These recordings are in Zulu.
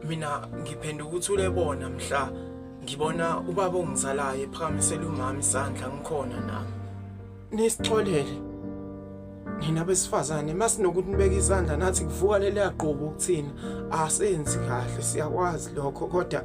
mina ngiphendula ukuthi ulebona mhla ngibona ubaba ongizalayo ephakamisela umama isandla ngikhona nami nisixolele nina besifazane masinokuthi nibeke izandla nathi kuvuka leli yaqobo ukuthina asenzi kahle siyakwazi lokho kodwa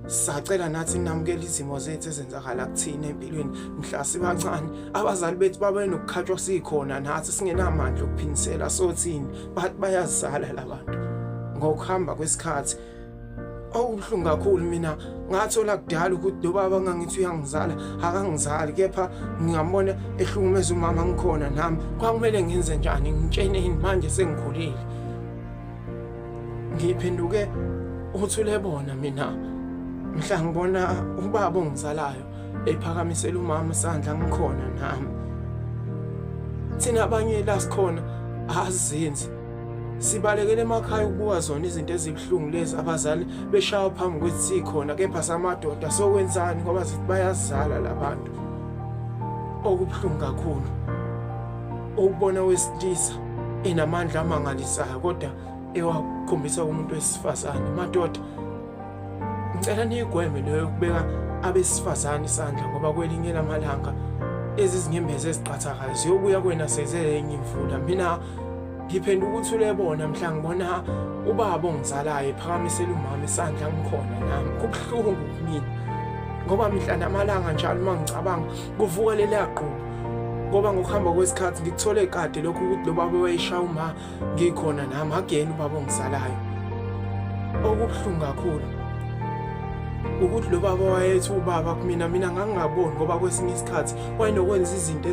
sacela nathi namukela izimo zethu ezenzakala kuthina empilweni mhla sibancane abazali bethu babe nokukhatshwa sikhona nathi singenamandla okuphindisela sothini bathi bayazala labantu ngokuhamba kwesikhathi okubuhlungu kakhulu mina ngathola kudala ukuthi lo baba ngangithi uyangizala akangizali kepha ngingambona ehlukumeza umama ngikhona nami kwakumele ngenze njani ngitsheneni manje sengikhulile Ngiphenduke uthule bona mina mhla ngibona ubaba ongizalayo ephakamisela umama isandla ngikhona nami thina abanye la sikhona azenzi sibalekele emakhaya ukubuka zona izinto ezibuhlungu lezi abazali beshawa phambi kwethi sikhona kepha samadoda sokwenzani ngoba zithi bayazala labantu okubuhlungu kakhulu ukubona wesilisa inamandla amangalisayo kodwa ewakhombisa umuntu wesifazane madoda ngicela niyigweme leyo yokubeka abesifazane isandla ngoba kwelinye lamalanga ezi zinyembezi eziqhathakayo ziyobuya kwena sezenye imvula mina ngiphendula ukuthi ulebona mhla ngibona ubaba ongizalayo ephakamisela umama isandla ngikhona nami kubuhlungu kumina ngoba mihla namalanga njalo uma ngicabanga kuvuka leliya gqubu ngoba ngokuhamba kwesikhathi ngikuthole kade lokhu ukuthi lo baba wayeshaya uma ngikhona nami ageni ubaba ongizalayo okubuhlungu kakhulu ukuthi lo baba wayethi ubaba kumina mina ngangingaboni ngoba kwesinye isikhathi wayenokwenza izinto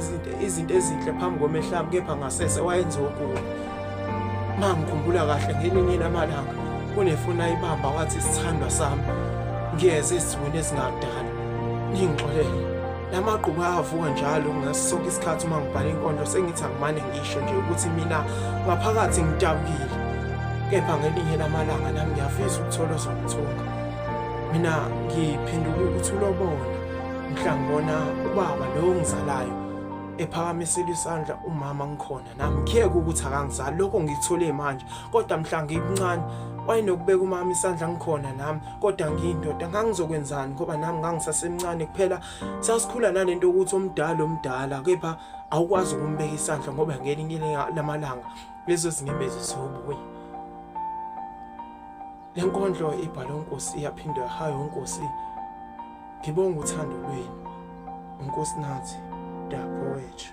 izinto ezinhle phambi komehlami kepha ngasese wayenza okubi Mangikhumbula kahle ngelinye lamalanga kunefoni ayibamba wathi sithandwa sami ngiyeze ezweni ezingadala ngingixolele la magqubu ayavuka njalo ngaso sonke isikhathi uma ngibhala inkondlo sengithi angimane ngisho nje ukuthi mina ngaphakathi ngidabukile kepha ngelinye lamalanga nami ngiyafisa ukuthola ozongithunga mina ngiphenduke ukuthi ulobona mhla ngibona ubaba lowo ngizalayo ephakamisela isandla umama ngikhona namkheka ukuthi akangizali lokho ngikuthole manje kodwa mhla ngikuncane wayenokubeka umama isandla ngikhona nami kodwa ngiyindoda ngangizokwenzani ngoba nami ngangisasemncane kuphela sasikhula nalento ukuthi omdala omdala kepha awukwazi ukumbeka isandla ngoba ngelinye lamalanga lezo zinyembezi ziyobuya le nkondlo ibhalwe unkosi iyaphindwa hayi unkosi ngibonga uthando lwenu unkosi nathi dapho wethu